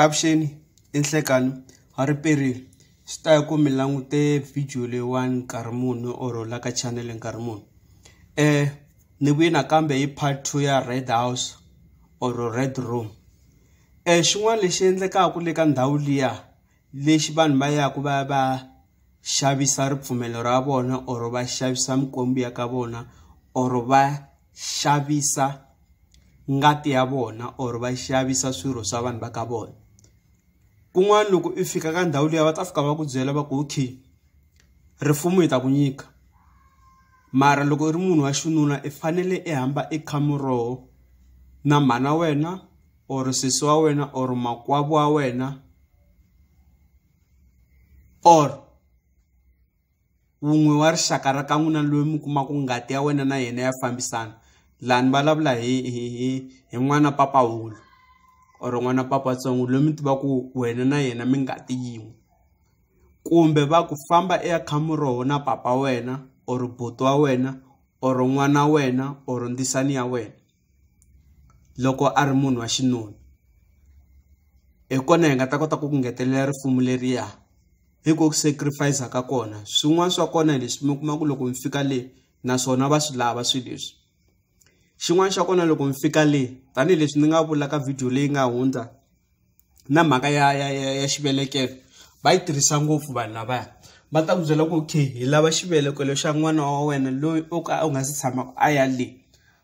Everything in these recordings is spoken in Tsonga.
Avuxeni i Nhlekani wa ripedi swi ta ya ku mi langute video leyiwani nkarhi muni or la ka chanele nkarhi muni ni vuye nakambe hi part two ya Red house or Red room xin'wana lexi endlekaka le ka ndhawu liya. lexi vanhu va yaka va ya va xavisa ripfumelo ra vona or va xavisa mikwembu ya ka vona or va xavisa ngati ya vona or va xavisa swirho swa vanhu va ka vona kun'wana loko i fika ka ndhawu liya va ta fika va ku byela va ku okay rifumo hi ta ku nyika mara loko i ri munhu wa xinuna i fanele i hamba i kha muroho na mhana wena or sesi wa wena or makwavo wa wena or wun'we wa rixaka ra ka n'wina loyi mi kumaka ngati ya wena na yena ya fambisana laha ni vulavula hi hi hi hi n'wana papa wulu or n'wana papa tsongo loyi mi tiva ku wena na yena mi ngati yin'we kumbe va ku famba eka khamu roho na papa wena or buti wa wena or n'wana wena or ndzisani ya wena loko a ri munhu wa xinuna hi kona hi nga ta kota ku ngetelela risimu leriya hi ku sacrifice ka kona swin'wana swa kona hi leswi mi kuma ku loko mi fika le naswona va swi lava swilo leswi xin'wana xa kona loko mi fika le tanihileswi ni nga vula ka video leyi nga hundza na mhaka ya ya ya ya xivelekelo va yi tirhisa ngopfu vanhu lavaya va ta ku byela ku okay hi lava xivelekelo xa n'wana wa wena loyi o ka u nga si tshama a ya le.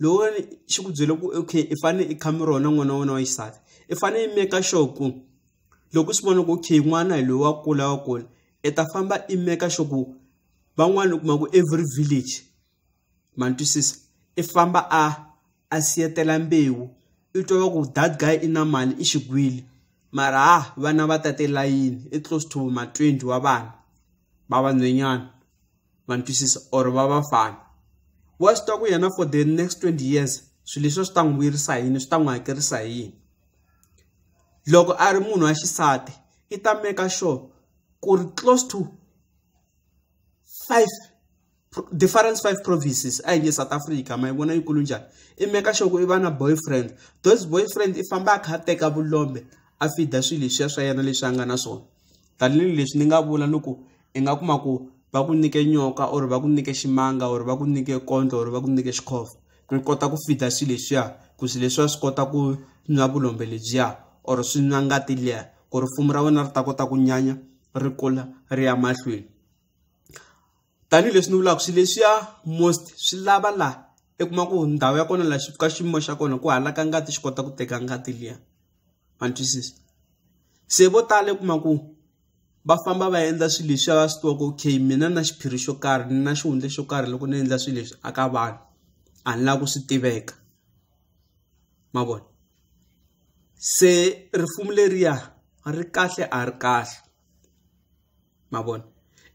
loko wena xi ku byele ku okay i fane i khame rona n'wana wa wena wa xisati i fane i make sure ku loko swi vona ku okay n'wana hi loyi wa kula wa kula i ta famba i make sure ku van'wana u kuma ku every village ma ni twisisa i famba a a siyetela mbewu i twa va ku that guy i na mali i xigwili mara ha vana va tate layini i close to ma twenty wa vana va vanhwenyana. ma ni twisisa or va vafana wa swi tiva ku yena for the next twenty years swilo leswi swi ta n'wi vuyerisa hi yini swi ta n'wi hakerisa hi yini loko a ri munhu wa xisati i ta maker sure ku ri close to five difference five provinces a hi nge south africa ma yi vona yikulu njhani i maker sure ku i va na boyfriend those boyfriend i famba a kha a teka vulombe a fida swilo leswiya swa yena leswi a nga na swona tanihileswi ni nga vula loko i nga kuma ku va ku nyike nyoka or va ku nyike ximanga or va ku nyike kondlo or va ku nyike xikhofo ku kota ku feed-a swilo leswiya ku swilo leswiya swi kota ku nwa vulombe lebyiya or swi nwa ngati liya ku ri risimu ra wena ri ta kota ku nyanya ri kula ri ya mahlweni tanihileswi ni vulaka swilo leswiya most swi lava laha i kuma ku ndhawu ya kona la xi ka xiyimo xa kona ku halaka ngati xi kota ku teka ngati liya ma ni twisisa se vo tala i kuma ku. va famba va endla swilo leswi va swi tivaka okay mina na xiphiri xo karhi na xihundla xo karhi loko ni endla swilo leswi a ka vanhu a ni lava ku swi tiveka ma vona se risimu leriya ri kahle a ri kahle ma vona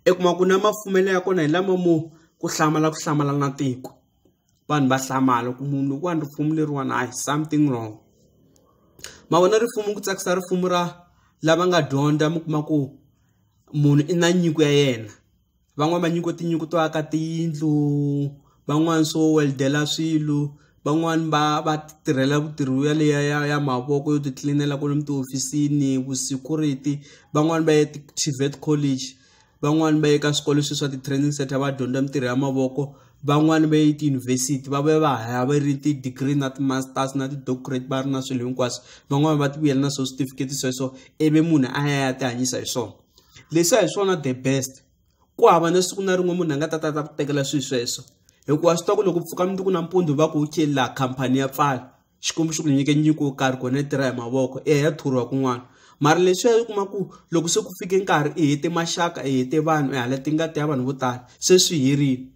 i kuma ku na mafumelo ya kona hi lama mo ku hlamala ku hlamala na tiko. vanhu va hlamala ku munhu loko wa ni ripfumelo leriwani hayi something wrong ma vona ripfumelo ku tsakisa ripfumelo ra lava nga dyondza mi kuma ku munhu i na nyiko ya yena van'wani va nyiko tinyiko to aka tiyindlu van'wani swo weldela swilo van'wani va va tirhela vutirhi ya leya ya ya mavoko yo ti tlilinela kwale mi tihofisini vu security van'wani va ya ti-TVET college. van'wani va ye ka swikolo swi swa ti-training center va dyondza mintirho ya mavoko van'wani va ye tiyunivhesiti va va va haya va ri ti-degree na ti-masters na ti-doctorate va ri na swilo hinkwaswo van'wani va ti vuyela na swo switifiketi sweswo ivi munhu a ya ya ti hanyisa hi swona leswiya hi swona the best ku hava na siku na rin'we munhu a nga ta ta ta ku tekela swilo sweswo hikuva swi tiva ku loko pfuka mundzuku nampundzu va ku wu cela khampani ya pfala xikwembu xi ku nyike nyiko yo karhi kona yi tirha hi mavoko i ya ya thoriwa kun'wana mara leswiya yi kuma ku loko se ku fike nkarhi i hete maxaka i hete vanhu i hala tingati ya vanhu vo tala se swi herile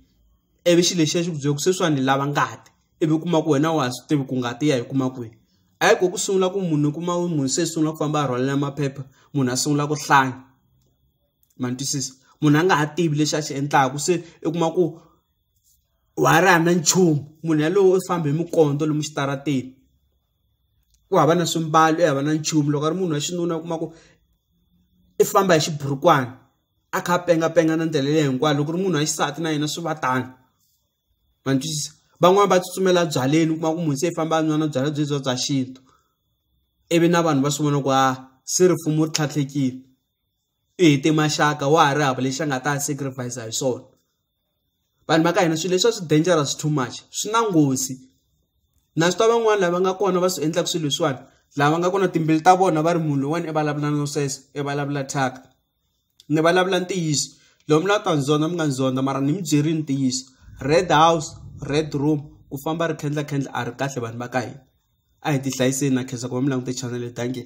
ivi xi lexiya xi ku byela ku sweswiwani ni lava ngati ivi u kuma ku wena wa ha swi tivi ku ngati ya yi kuma kwihi a yi ko ku sungula ku munhu u kuma munhu se sungula ku famba a rhwalela maphepha munhu a sungula ku hlanya ma ni twisisa munhu a nga ha tivi lexi a xi endlaku se i kuma ku wa ha ri hava na nchumu munhu yaloye u famba hi minkondzo lomu xitarateni ku hava na swimbalo i hava na nchumu loko a ri munhu wa xinuna u kuma ku i famba hi xiburukwani a kha a pengapenga na ndlela leyi hinkwayo loko ri munhu wa xisati na yena swi va tano ma ni twisisa van'wani va tsutsumela byaleni u kuma ku munhu se i famba a nwa na byalwa byi bya bya xintu ivi na vanhu va swi vona ku a se ripfumo ri tlhatlhekile i hete maxaka wa ha ri hava lexi a nga ta sacrifice hi swona. vanhu va ka hina swilo leswiwa swi dangerous too much swi na nghozi na swi tiva van'wani lava nga kona va swi endlaka swilo leswiwani lava nga kona timbilu ta vona va ri munhu loyiwani i vulavula no sweswo i vulavula thyaka ni vulavula ntiyiso lomu la ta ni zonda mi nga ni zonda mara ni mi byerile ntiyiso red house red room ku famba ri khendla khendla a ri kahle vanhu va ka hina a hi ti hlayiseni na khensa ku va mi langute chanel dankie.